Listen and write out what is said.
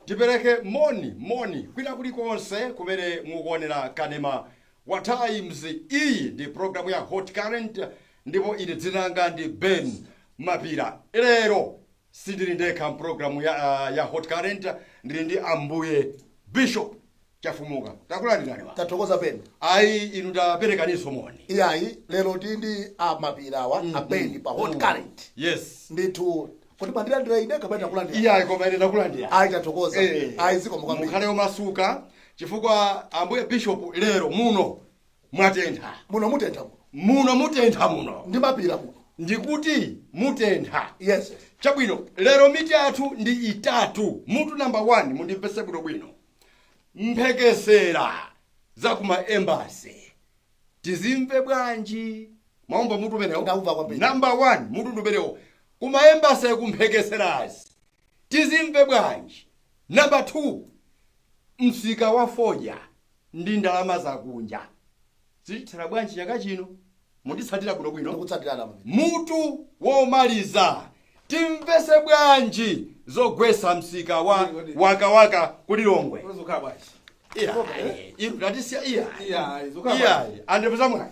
tipereke moni moni kwina kulikonse kumene mukuonera kanema wa times iyi ndi programu ya hot current ndipo ine dzina langa ndi ben mapira lero Sindili ndekha m'programu ya, uh, ya Hot Current, ndili ndi Ambuye Bishop Chafumuka. Takulandirani. Tathokoza Ben. Ayi inu taperekaniso moni. Iyayi lero tili ndi a mapira awa mm, a Ben pa Hot mm. Current. Yes. Ndithu kuti mwandilandira ine kapena takulandira. Iyayi koma ine takulandira. Ayi tathokoza. Eh, Ayi zikomo kwambiri. Mukhale omasuka chifukwa Ambuye Bishop lero muno mwatentha muno mutentha muno muno mutentha muno ndi mapira muno ndikuti mutentha yes chabwino lero mitu yathu ndi itatu mutu namba 1 mundimvese bwino bwino mphekesera za kuma embasi tizimve bwanji mwaumva mutu umenewo Ndaumva kwambiri. namba 1 mutu ndi umenewo kuma embasi kumphekeserazi tizimve bwanji namba 2 msika wa fodya ndi ndalama zakunja. Zitithera bwanji chaka chino? Munditsatira bwinobwino? Ndikutsatirani pamene. Mutu womaliza, Timvese bwanji zogwesa msika wa wakawaka ku Lilongwe? Zokhala bwanji? Iya, Zokhala, eh? iru tatisiya iya. Iya, zokhala Iya, bwanji? andipeza mwayi.